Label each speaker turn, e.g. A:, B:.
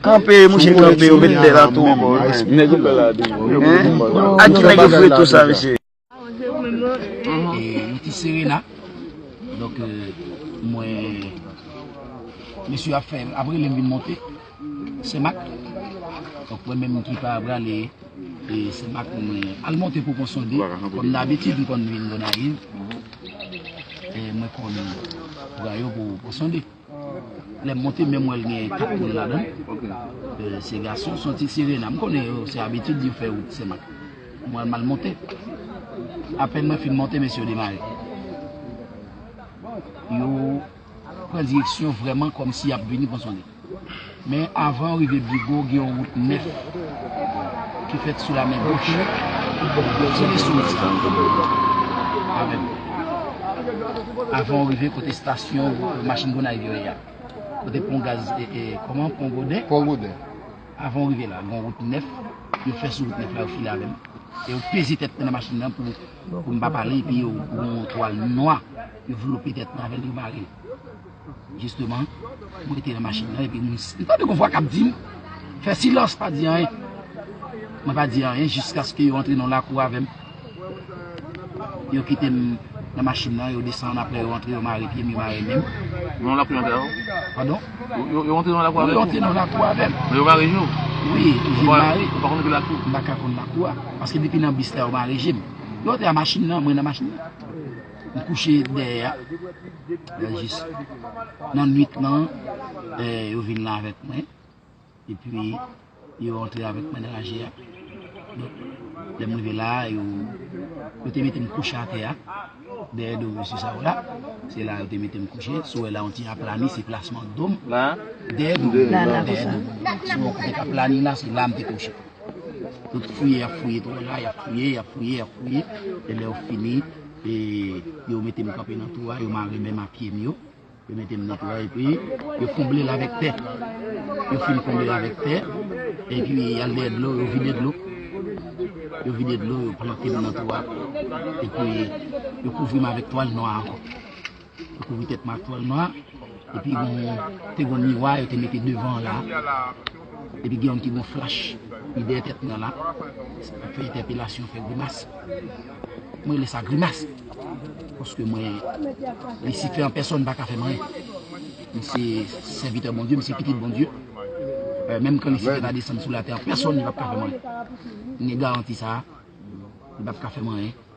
A: Kanpe mouche kanpe yo met bela tou anko wi menm. Neg yo pè la tou wi yo pè konba la. A ki neg yo foure tou sa mesye. E
B: nou te sere la. Donk mwen mesye ap fè ap relem vin monte senmak. Donk mwen menm ki pa prale e senmak mwen al monte pou konsonde kom dabitid m konn vin gonayiv e mwen konn pran yo pou konsonde. Lèm monte menm wèl gen kat koulè ladann se gason son ti sirena m konnen yo se abitid yo fè wout senmak mwen mal monte apèn mwen fin monte mesye yo demare yo pran direksyon vrèman kòmsi yap vini pran son de. Men avan ou rive Bigo gen yon wout nèf ki fèt sou lamen goch. Ti leson ti fanmi yo avè m. Avan ou rive kote stasyon machin Gonayiv yo ye a, kote pon gaz kòman pon Goden,
C: avan ou rive
B: la gen yon wout nèf yo fè sou wout nèf la yo file avè m e yo peze tèt mwen nan machin nan pou m pa pale epi yo gen yon twal nwa yo vlope tèt mwen avè l yo mare l. Jisteman, mwen te nan machin nan epi mwen tande yon vwa k ap di m, Fè silans, pa di anyen. Mwen pa di anyen jiskaske yo antre nan yon lakou avè m. Yo kite m nan machin nan, yo desann apre yo antre, yo mare pye m, yo mare men m. Nan yon lakou avè w?
D: Padon?
B: Yo antre nan yon
D: lakou avè w? Yo antre nan yon lakou avè m.
B: Yo mare je w?
D: Wi, je m mare.
B: Ou pa konn ki lakou? M pa
D: ka konn lakou a.
B: Paske depi nan bis la yo mare je m. Yo antre nan machin nan, mwen nan machin nan. M kouche dèyè a. Nan jis nan nwit lan, yo vin la avèk mwen, epi yo antre avèk mwen nan laje a. Donk, lè m rive la, yo te mete m kouche atè a, dèyè do mesye sa yo la. Se la yo te mete m kouche. Si w wè la, yon ti aplani, se plasman do m. Dèyè do m, sou yon kote k aplani la, se la m te kouche. Tout fouye yap fouye twou la, yap fouye, yap fouye, yap fouye, e lè yo fini, e yo mete m kanpe nan twou a, yo mare men m a pye m yo, yo mete m nan twou a, epi yo konble l avèk tè. Yo fin konble l avèk tè, epi yal dèyè dlo, yo vide dlo, yo vide dlo, yo plante m nan twou a, epi yo kouvri m avèk twal nwa ankò. Yo kouvri tèt m ak twal nwa, epi te gen yon miwa yo te mete devan an la, epi gen yon ti bon flach ki dèyè tèt mwen an la, ki ap fè entèpelasyon, fè grimas. Mwen rele sa grimas, paske mwen, Lisifè an pèsòn pa ka fè m anyen. Mwen se sèvitè Bondye, mwen se pitit Bondye, menm kan Lisifè ta desann sou latè an pèsòn li pap ka fè m anyen. Mwen gen garanti sa a, li pap ka fè m anyen.